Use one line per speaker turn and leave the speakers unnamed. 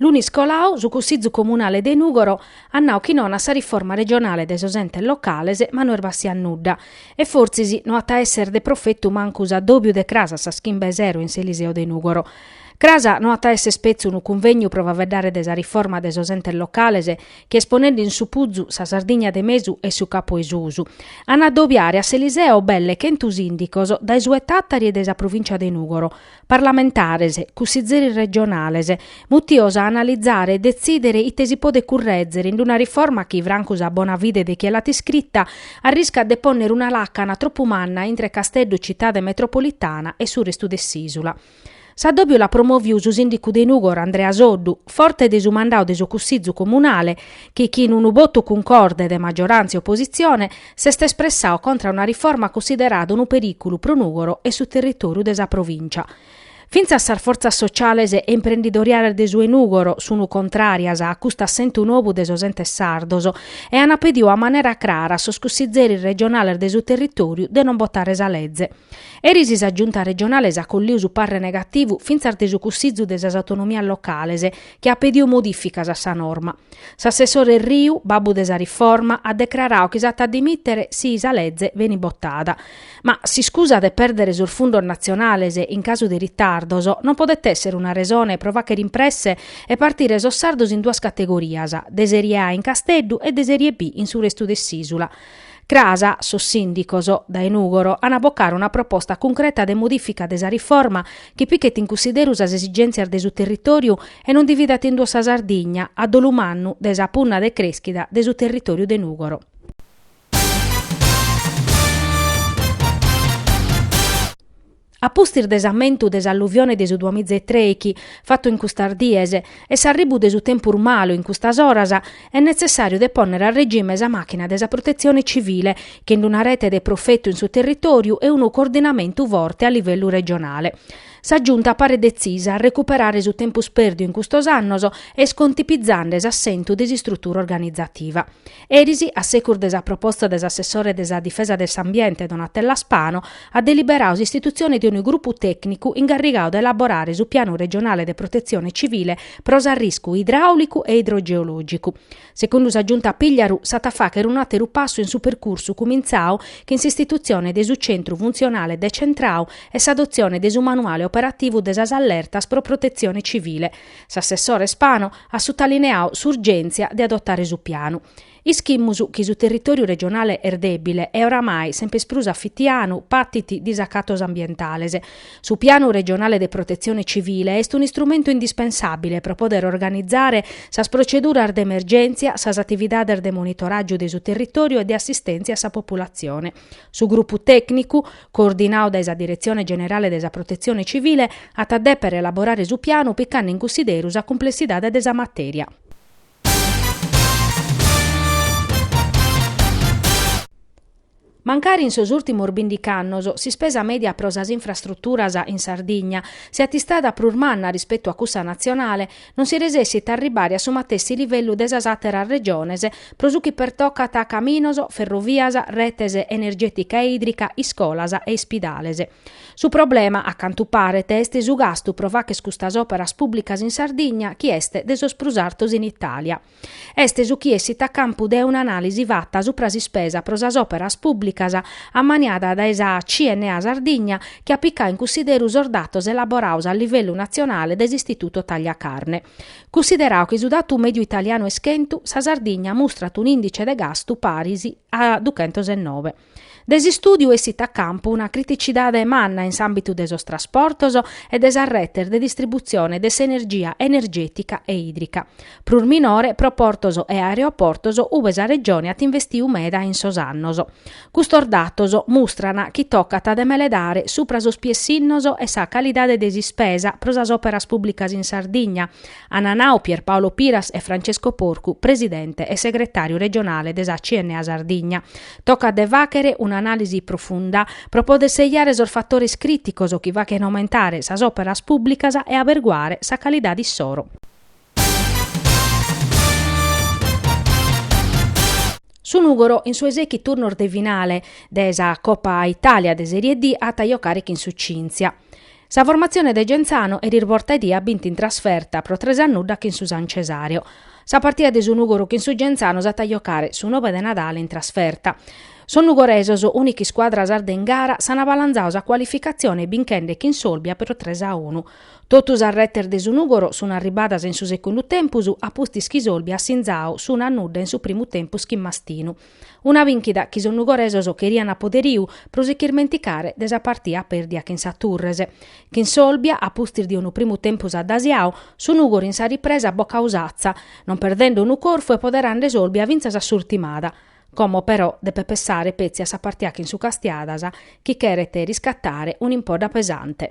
Lunis colau su Cussizu Comunale de Nùgoro at nau chi non a sa riforma regionale de sos entes locales ma no est bàssiu a nudda e fortzis no at a èssere de profetu mancu s'adòbiu de cras a sas chimbe 'e sero in s'Eliseo de Nùgoro. Cras no at a èssere petzi unu cunvegnu pro faveddare de sa riforma de sos entes locales chi est ponende in supuzu sa Sardigna de mesu e su Capu 'e Susu. An a adobiare a s'Eliseo belle chentu sìndicos dae su 'e Tàtari e dae sa provìncia de Nùgoro. parlamentares, cussizzeris regionales, mutios a analizare e detzìdere ite si podet currèzere in una riforma chi, francu sa bona fide de chie l'at iscrita, arriscat de pònnere una làcana tropu manna intre Casteddu citade metropolitana e su restu de s'ìsula. S'addòbiu l'at promoviu su sìndicu de Nùgoro Andrea Soddu, forte de su mandau de su Cussizu comunale, chi chin unu botu cuncorde de magioràntzia e opositzione, s'est espressau contra una riforma cunsiderada unu perìculu pro Nùgoro e su territòriu de sa provìncia. Fintzas sas fortzas sociales e imprendidoriales de su 'e Nùgoro sunt contràrias a custu assentu nou de sos entes sardos e ant pediu a manera crara a sos cussizeris regionales de su territòriu de non botare sa leze. Eris sa Giunta regionale s'at colliu su parre negativu fintzas de su Cussizu de sas Autonomias Locales chi at pediu modificas a sa norma. S'assessore Erriu, babbu de sa riforma, at decrarau chi s'at a dimittere si sa leze benit botada. Ma s'iscusa de perdere sos fundos natzionales in casu de ritardos non podet essere una resone pro fachere in presse e partire sos sardos in duas categorias, de Serie A in Casteddu e de Serie B in su restu de s'Isula. Cras, sos sìndicos, dae Nùgoro, ant a bocare una proposta cuncreta de modìfica de sa riforma chi pichet in cunsideru sas esigèntzias de su territòriu e non dividat in duos sa Sardigna, a dolu mannu, de sa punna de crèschida de su territòriu de Nùgoro. A pustis de s'ammentu de s'alluvione de su duamiza e trèichi, fatu in custas dies, e s'arribu de su tempus malu in custas oras, est netzessàriu de pònnere a regime sa màchina de sa Protetzione Civile, chin d'una rete de profetu in su territòriu e unu coordinamentu forte a livellu regionale. Sa Giunta paret detzisa a recuperare su tempus pèrdiu in custos annos e est contipizande s'assentu de s'istrutura organizativa. Eris, a secus de sa proposta de s'assessore de sa Difesa de s'Ambiente Donatella Spano, at deliberau s'istitutzione de unu grupu tècnicu ingarrigau de elaborare su Pianu regionale de protetzione civile pro s'arriscu idraùlicu e idrogeològicu. Secundu sa Giunta Pigliaru s'at a fàchere un'àteru passu in su percursu cumintzau chin s'istitutzione de su centru funtzionale decentrau e s'adotzione de su manuale operativu de sas allertas pro protetzione civile, S'assessore Spano at sutalineau s'urgèntzia de adotare su pianu. Ischimus chi su territòriu regionale est dèbile e oramai semper prus afitianu patit disacatos ambientales. Su pianu regionale de protetzione civile est un'istrumentu indispensàbile pro poder organizare sas proceduras de emergèntzia, sas atividades de monitoràgiu de su territòriu e de assistèntzia a sa populatzione. Su grupu tècnicu, coordinadu dae sa Diretzione Generale de sa Protetzione Civile, at a dèpere elaborare su pianu picande in cussideru sa cumplessidade de sa matèria. Mancari in sos ùrtimos bindic'annos s'ispesa mèdia pro sas infrastruturas in Sardigna siat istada prus manna rispetu a cussa natzionale, non si resessit a arribare a su matessi livellu de sas àteras regiones pro su chi pertocat a caminos, ferrovias, retes energètica e ìdrica, iscolas e ispidales. Su problema, a cantu paret, est su gastu pro fagher custas òperas pùblicas in Sardigna chi est de sos prus artos in Itàlia. Est su chi essit a campu de un'anàlisi fata supra s'ispesa pro sas òperas pùblicas ammaniada dae sa CNA Sardigna chi at picadu in cussideru sos datos elaborados a livellu natzionale dae s'Istituto Tagliacarne. Cussideradu chi su datu mèdiu italianu est chentu, sa Sardigna mustrat un'ìndice de gastu paris a duchentos e noe. De s'istùdiu essit a campu una criticidade manna in s'àmbitu de sos trasportos e de sas retes de distributzione de s'energia energètica e ìdrica. Prus minore pro portos e aereoportos ue sa Regione at investiu meda in sos annos. Custos datos mustran chi tocat de meledare supra sos piessinnos e sa calidade de s'ispesa pro sas òperas pùblicas in Sardigna, an nau Pierpaolo Piras e Francesco Porcu, presidente e segretàriu regionale de sa CNA Sardigna. Tocat de fàghere un'anàlisi profunda pro poder sejare sos fatores crìticos chi faghent aumentare sas òperas pùblicas e aberguare sa calidade issoro. Su Nùgoro in su 'e sèichi turnos de finale de sa Copa Itàlia de Serie D at a jocare chin su Cynthia. Sa formatzione de Genzano eris bortaedie at bintu in trasferta pro tres a nudda chin su San Cesareo. Sa partida de su Nùgoro chin su Genzano s'at a jocare su nobe de Nadale in trasferta. Sos nugoresos, ùnica iscuadra sarda in gara, s'an balanzadu sa cualificatzione binchende chin s'Olbia pro tres a unu. Totu sas retes de su Nùgoro sun arribadas in su segundu tempus a pustis chi s'Olbia at sinzadu s'unu a nudda in su primu tempus chin Mastinu. Una bìnchida chi sos nugoresos cherian a poderiu pro si ch'irmenticare de sa partia pèrdia chin sa Turres. Chin s'Olbia, a pustis de unu primu tempus addasiadu, su Nùgoro in sa ripresa at bocadu s'atza, non perdende unu corfu e poderande s'Olbia fintzas a s'urtimada. Como, però, depet pessare petzi a sa partia chin su Castiadas, chi cheret riscatare un'impodda pesante.